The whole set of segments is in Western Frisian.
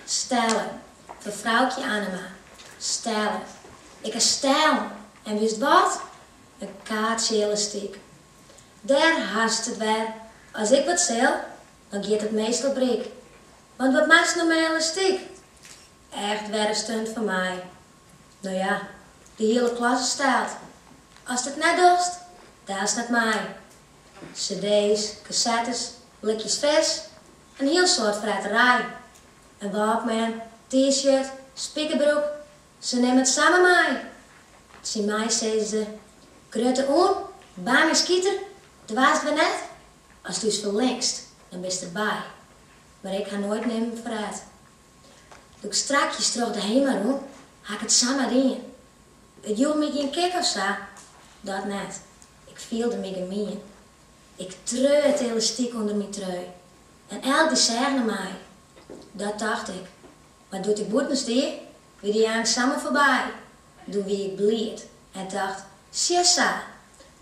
Stelle, fan Froukje Annema. Stelle, ik ha stellen, en witst wat? In kaartsje elastyk. Dêr hast it wer, as ik wat sil, dan giet it meastal bryk. Want wat moatst no mei elastyk? Echt wer in stunt fan my. No ja, de hiele klasse stelt. Ast it net dochst, hearst net mei. Cd's, kasettes, blikjes fris, In hiel soad freterij. In walkman, t-shirt, spikerbroek, se nimme it samar mei. Tsjin my seine se, grutte oen, bangeskiter, doarst wer net. Ast ús ferlinkst, dan bist der by. Mar ik ha noait nimmen ferret. Doe ik strakjes troch de Hema rûn, ha ik it samar dien. It joech my gjin kik of sa, dat net. Ik fielde my gemien. Ik treau it elastyk ûnder myn trui en elk die seach nei my. Dat dacht ik, mar doe't ik bûten stie, wie dy angst samar foarby. Doe wie ik bliid en dacht, sjesa,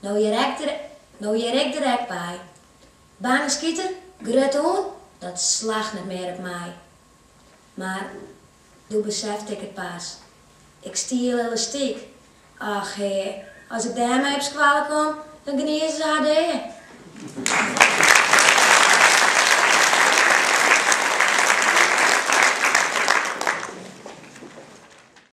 no hear ik der ek by. Bangeskiter, grutte oen, dat slacht net mear op my. Mar Doe besefte ik it pas. Ik stiel elastyk. Och hea, as ik dêrmei op skoalle kom, dan gnize se har dea.